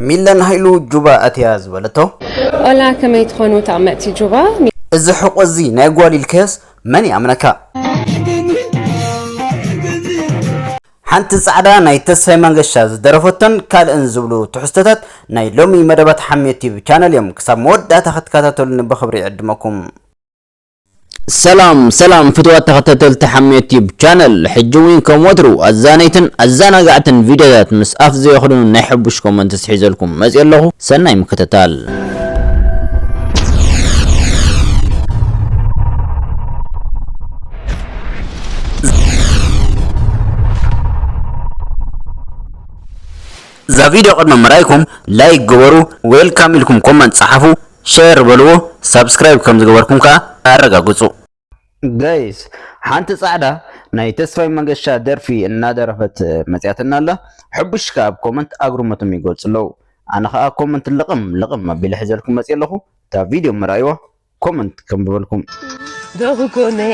ሚለን ሃይሉ ጁባ ኣትያ ዝበለቶ። ኦላ ከመይ ትኾኑ ተቅመጥቲ ጁባ። እዚ ሕቆ እዚ ናይ ጓል ኢልካዮስ መን ይኣምነካ። ሓንቲ ጻዕዳ ናይ ተስፋይ መንገሻ ዝደረፈቶን ካልእን ዝብሉ ትሕዝቶታት ናይ ሎሚ መደባት ሓምየት ቲዩብ ቻነል እዮም ክሳብ መወዳእታ ክትከታተሉኒ ብኽብሪ ይዕድመኩም። ሰላም ሰላም ፍትዋት ተኸታተልቲ ሓሜት ዩቲዩብ ቻነል ሕጂ እውን ከም ወትሩ ኣዛነይትን ኣዘናጋዕትን ቪድዮታት ምስ ኣፍ ዘየኽድኑ ናይ ሕቡሽ ኮመንትስ ሒዘልኩም መፅእ ኣለኹ ሰናይ ምክትታል እዛ ቪድዮ ቅድሚ ምርኣይኩም ላይክ ግበሩ ዌልካም ኢልኩም ኮመንት ፀሓፉ ሸር በልዎ ሳብስክራይብ ከም ዝገበርኩም ከኣ ኣረጋግጹ። ጋይስ ሓንቲ ጻዕዳ ናይ ተስፋይ መንገሻ ደርፊ እናደረፈት መጺኣትና ኣላ ሕቡሽ ከኣ ኣብ ኮመንት ኣግርሞቶም ይገልጹ ኣለዉ ኣነ ከኣ ኮመንት ልቕም ልቕም ኣቢለ ሕዘልኩም መጺኤ ኣለኹ እታ ቪድዮ መርኣይዋ ኮመንት ከንብበልኩም። ዶብ ጎነይ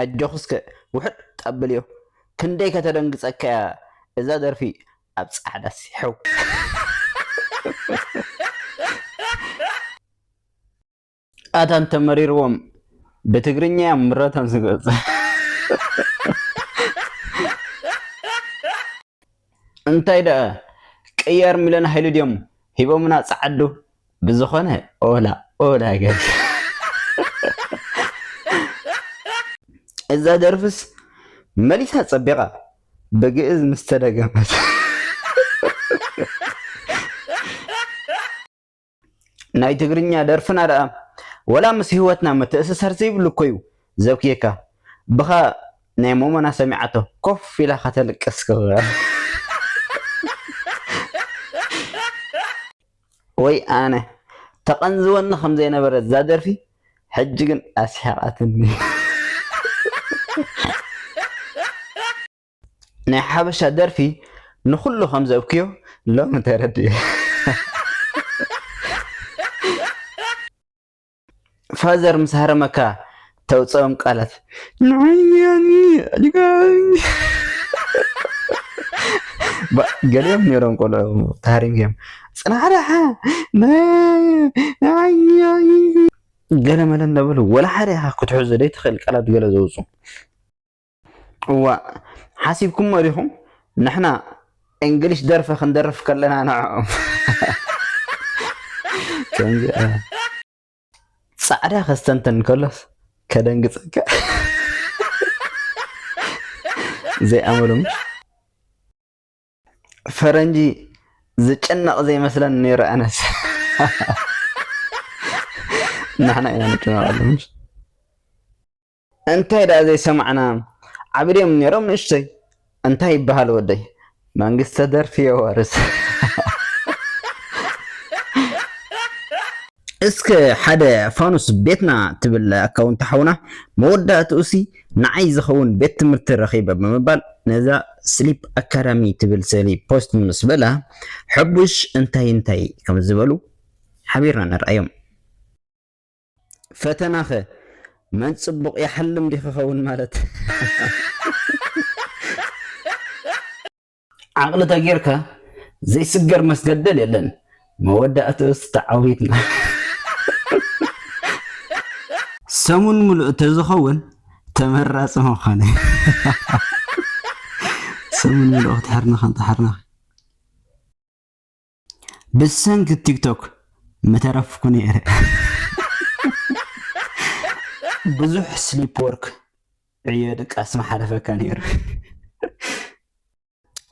ኣጆኺ እስከ ውሕጥ ኣብልዮ ክንደይ ከተደንግጸካ እያ እዛ ደርፊ ኣብ ጻዕዳ ሲሕው። ኣታ እንተ መሪርዎም ብትግርኛ እዮም ምረቶም ዝገልጹ። እንታይ ደኣ ቅያር ሚለን ሃይሉ ድዮም ሂቦምና ጸዓዱ ብዝኮነ ኦላ ኦላ ገርኪ። እዛ ደርፍስ መሊሳ ጸቢቃ ብግእዝ ምስ ተደገመት። ናይ ትግርኛ ደርፍና ደኣ ወላ ምስ ሂወትና ምትእስሳር ዘይብሉ እኮዩ ዘብክየካ ብኻ ናይ ሞሞና ሰሚዓቶ ኮፍ ኢላ ከተልቅስ ክክ። ወይ ኣነ ተቐንዝወኒ ከም ዘይነበረት እዛ ደርፊ ሕጂ ግን ኣስሒቓትኒ። ናይ ሓበሻ ደርፊ ንኹሉ ከም ዘብክዮ ሎሚ ተረዲኤ። ፋዘር ምስ ሃረመካ ተውፅኦም ቃላት ገሊኦም ነይሮም ቆልዑ ተሃሪምዮም ፅናዕራሓ ገለ መለ እንዳበሉ ወላ ሓደ ክትሕዞ ዘይትኽእል ቃላት ገለ ዘውፁ እዋእ ሓሲብኩሞ ዲኹም ንሕና እንግሊሽ ደርፊ ክንደርፍ ከለና ንዕኦም ጻዕዳ ከስተንተን ከሎስ ከደንግጸካ ዘይኣመሎም ፈረንጂ ዝጨነቕ ዘይመስለን ነይረ ኣነስ ንሕና ኢና ንጨነቐሉ እንታይ ደኣ ዘይሰማዕና ዓቢ ድዮም ኔሮም ንእሽቶይ እንታይ ይበሃል ወደይ መንግስተ ደርፊ የዋርስ። እስከ ሓደ ፋኑስ ቤትና ትብል ኣካውንት ሓውና መወዳእትኡሲ ንዓይ ዝኸውን ቤት ትምህርቲ ረኺበ ብምባል ነዛ ስሊፕ ኣካዳሚ ትብል ስእሊ ፖስት ምስ በለ ሐቡሽ እንታይ እንታይ ከም ዝበሉ ሓቢርና ንርኣዮም። ፈተናኸ መን ጽቡቕ ይሓልም ዲኺ ኸውን ማለት ዓቕሊ ተጌርካ ዘይስገር መስገደል የለን መወዳእትኡስ ተዓዊትና። ሰሙን ምሉእ ተዝኸውን ተመራጺ ምኾነ። ሰሙን ምሉእ ክትሕርንኺ እንተሓርንኺ ብሰንኪ ቲክቶክ ምተረፍኩ ነይረ። ብዙሕ ስሊፕ ወርክ ዕዮ ድቃስ ምሓለፈካ ነይሩ።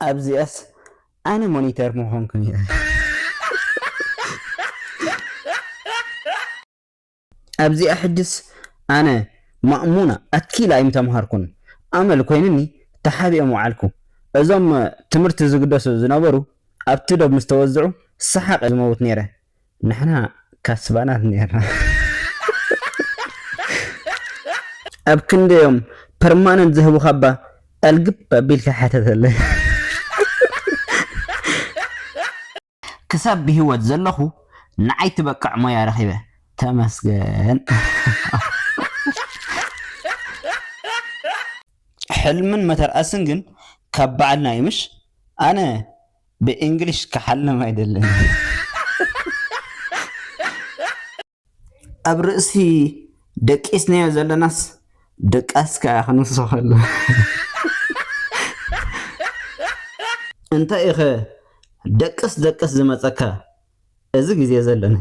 ኣብዚኣስ ኣነ ሞኒተር ምኾንኩ ነይረ። ኣብዚኣ ሕጅስ ኣነ ማእሙና ኣኪል ኣይምተምሃርኩን ኣመል ኮይንኒ ተሓቢኦም ወዓልኩ እዞም ትምህርቲ ዝግደሱ ዝነበሩ ኣብቲ ዶብ ምስ ተወዝዑ ሰሓቅ እየ ዝመውት ነይረ ንሕና ካስባናት ነይርና ኣብ ክንደዮም ፐርማነንት ዝህቡኻባ ኣልግብ ኣቢልካ ሓተተለይ። ክሳብ ብሂወት ዘለኹ ንዓይ ትበቅዕ ሞያ ረኺበ ተመስገን። ሕልምን መተርኣስን ግን ካብ ባዕልና እዩ ምሽ ኣነ ብእንግሊሽ ክሓልም ኣይደልን። ኣብ ርእሲ ደቂስናዮ ዘለናስ ደቃስካ እያ ክንስኸሉ እንታይ ኢኸ ደቅስ ደቅስ ዝመፀካ እዚ ግዜ ዘለና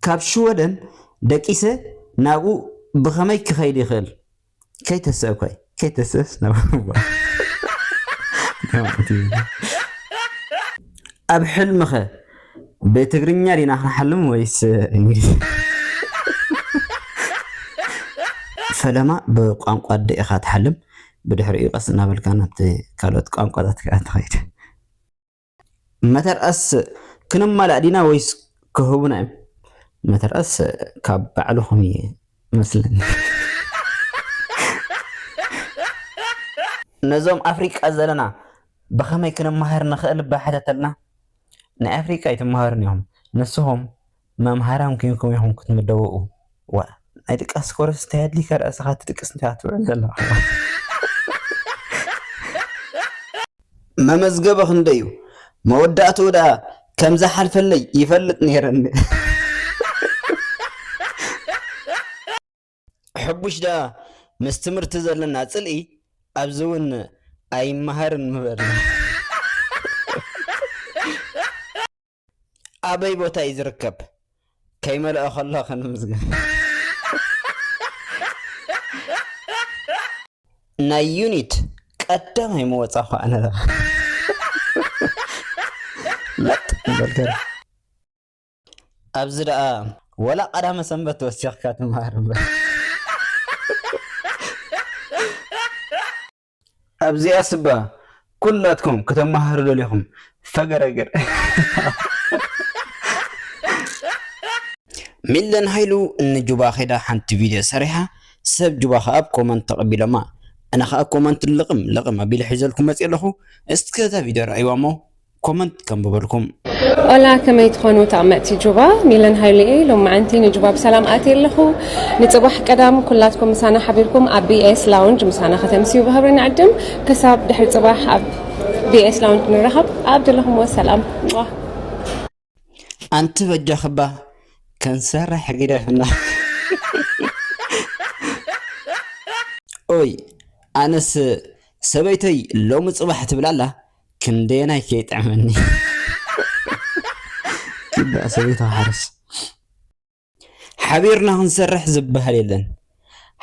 ካብ ሽወደን ደቂሰ ናብኡ ብኸመይ ክኸይድ ይኽእል? ከይተስእ እኳ ከይተስእስ ኣብ ሕልምኸ ብትግርኛ ዲና ክንሓልም ወይስ እንግሊዝ? ፈለማ ብቋንቋ ኣደ ኢኻ ትሓልም ብድሕሪኡ ቀስ እናበልካ ናብቲ ካልኦት ቋንቋታት ከዓ ትኸይድ መተርኣስ ክንማላእ ዲና ወይስ ክህቡና እዮም። መተርኣስ ካብ ባዕልኹም እየ መስለኒ። ነዞም ኣፍሪቃ ዘለና ብኸመይ ክንመሃር ንኽእል እባ ሕተተልና። ናይ ኣፍሪቃ ኣይትመሃሩን ኢኹም ንስኹም መምሃራን ኮይንኩም ኢኩም ክትምደቡ ዋእ። ናይ ድቃስ ኮርስ እንታይ ኣድሊካ ድኣ እስኻ ትድቅስ እንታይ ኢኻ ትውዕል ዘለኻ። መመዝገበ ክንደይ እዩ መወዳእትኡ ድኣ ከም ዝሓልፈለይ ይፈልጥ ነይረ እንድየ። ሕቡሽ ድኣ ምስ ትምህርቲ ዘለና ጽልኢ ኣብዚ ውን ኣይመሃርን ምበለ። ኣበይ ቦታ እዩ ዝርከብ ከይመልኦ ከሎ ክንምዝገብ። ናይ ዩኒት ቀዳማይ ምወፃኹ ኣነ ለባ ለጥ በልከር ኣብዚ ደኣ ወላ ቀዳመ ሰንበት ወሲኽካ ትምሃር እምበር ኣብዚኣስ እባ ኩላትኩም ክተማሃሩ ደሊኹም ፈገረገር። ሚለን ሃይሉ ን ጁባ ከይዳ ሓንቲ ቪድዮ ሰሪሓ ሰብ ጁባ ከኣ ብ ኮመንት ተቀቢሎማ ኣነ ከኣ ኮመንት ልቅም ልቅም ኣቢለ ሒዘልኩም መጽየ ኣለኩ እስከ እታ ቪድዮ ረኣይዋ እሞ ኮመንት ከንብበልኩም ኦላ ከመይ ትኾኑ ተቐመጥቲ ጁባ ሚለን ሃይሉ እየ ሎማዓንቲ ንጁባ ብሰላም ኣትየ ኣለኹ ንፅባሕ ቀዳም ኩላትኩም ምሳና ሓቢርኩም ኣብ ቢኤስ ላውንጅ ምሳና ከተምስዩ ብክብሪ ንዕድም ክሳብ ድሕሪ ፅባሕ ኣብ ቢኤስ ላውንጅ ንራኸብ ኣብ ዘለኹምዎ ሰላም ኣንቲ በጃኽባ ከንሰርሕ ግደፍና። ኦይ ኣነስ ሰበይተይ ሎሚ ጽባሕ ትብል ኣላ ክንደየናይ ከይጥዕመኒ። ይባእ ሰበይታ ሓርስ ሓቢርና ክንሰርሕ ዝበሃል የለን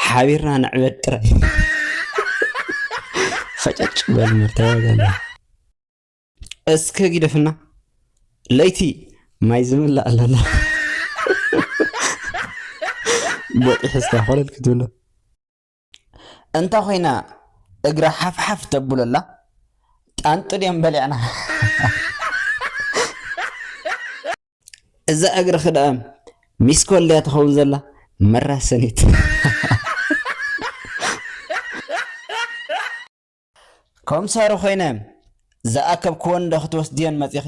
ሓቢርና ንዕበድ ጥራይ ፈጨጭ በል መርተባ ገለ እስከ ጊደፍና ለይቲ ማይ ዝምላእ ኣለና ቦጢ ሕዝካ ኮለል ክትብሎ እንተ ኮይና እግራ ሓፍሓፍ ተብሎ ኣላ ጣንጡ ድዮም በሊዕና እዛ እግሪ ክዳኣም ሚስ ኮልያ ትኸውን ዘላ መራሰኒት ኮምሳሪ ኮይነ ዝኣከብክወን ዶ ክትወስድየን መጺኺ?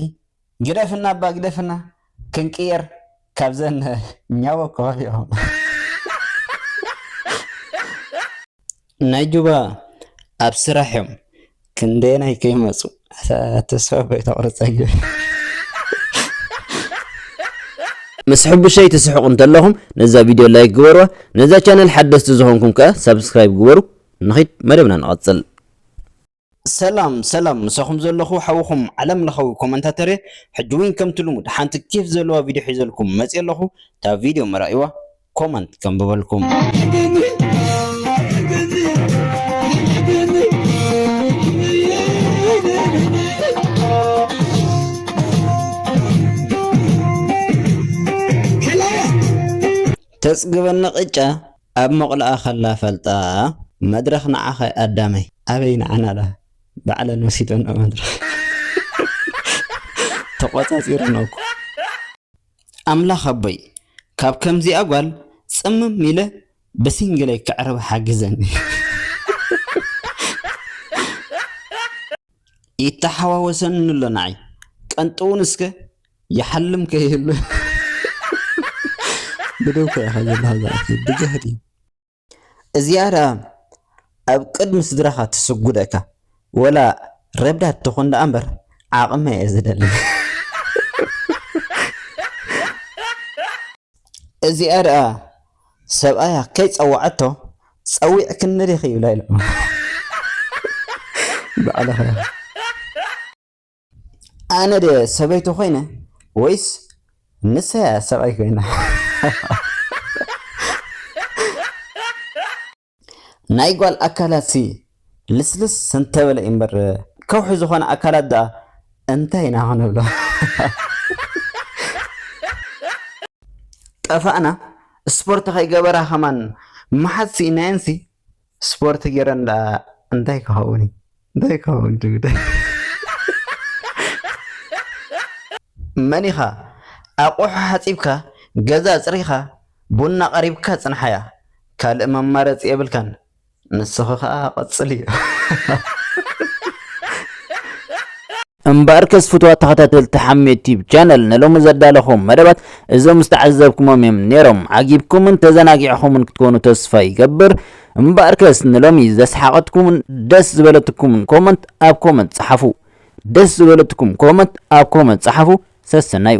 ግደፍና እባ ግደፍና ክንቅየር ካብዘን ኛቦ ከባቢኦም። ናይ ጁባ ኣብ ስራሕ እዮም ክንደየናይ ከይመጹ። ኣታ ተስፋ እኮ ኣይተቁርጸኒ። ምስ ሕቡሸይ ትስሕቁ እንተለኹም ነዛ ቪድዮ ላይክ ግበርዋ ነዛ ቻነል ሓደስቲ ዝኾንኩም ከኣ ሳብስክራይብ ግበሩ ንኺድ መደብና ንቐጽል። ሰላም ሰላም ምሳኹም ዘለኹ ሓውኹም ዓለም ለኸዊ ኮመንታተር እየ ሕጂ ዊን ከምቲ ልሙድ ሓንቲ ኬፍ ዘለዋ ቪድዮ ሒዘልኩም መጽየ ኣለኹ እታ ቪድዮ ምራእይዋ ኮመንት ከንብበልኩም ተጽግበኒ ቅጫ ኣብ ሞቕልኣ ከላ ፈልጣ መድረኽ ንዓኸ ኣዳመይ። ኣበይ ንዓና ኣላ ባዕለን ወሲደንኦ መድረኽ ተቖጻጺረንኦ እኮ። ኣምላኽ ኣቦይ ካብ ከምዚኣ ጓል ጽምም ኢለ ብሲንግለይ ከዕርባ ሓግዘኒ። ይተሓዋወሰኒ ኣሎ ንዓይ ቀንጥውን እስከ ይሓልም ከይህሉ ብደው ኮ ኢኻ ዘለኻ ዝኣፍ ብጃህዲ እዚኣ ደኣ ኣብ ቅድሚ ስድራኻ ትስጉደካ ወላ ረብዳት ትኹን ደኣ እምበር ዓቕመ እየ ዝደሊ እዚኣ ደኣ ሰብኣያ ከይፀዋዐቶ ፀዊዕ ክንሪኽ ይብላ ኢሎም ባዕልኻ ኣነ ድየ ሰበይቱ ኮይነ ወይስ ንሰያ ሰብኣይ ኮይና? ናይ ጓል ኣካላት ሲ ልስልስ እንተበለ እዩ እምበር ከውሒ ዝኾነ ኣካላት ደኣ እንታይ ኢና ክንብሎ ጠፋእና ስፖርት ከይገበራ ከማን መሓዝ ስኢናየንሲ ስፖርት ጌረን ደኣ እንታይ ክኸውን እዩ እንታይ ክኸውን ትብል መን ኢኻ ኣቑሑ ሓጺብካ ገዛ ኣጽሪኻ ቡና ኣቐሪብካ ጽንሓያ ካልእ መማረጺ የብልካን ንስኺ ከኣ ቀጽልዮ። እምበኣርከስ ፍቱዋት ተኸታተልቲ ሓሜት ቲዩብ ቻነል ንሎሚ ዘዳለኹዎም መደባት እዞም ዝተዓዘብኩሞም እዮም ኔሮም ዓጊብኩምን ተዘናጊዕኹምን ክትኮኑ ተስፋ ይገብር እምበኣርከስ ንሎሚ ዘስሓቐትኩምን ደስ ዝበለትኩምን ኮመንት ኣብ ኮመንት ጸሓፉ ደስ ዝበለትኩም ኮመንት ኣብ ኮመንት ጸሓፉ ሰሰናዩ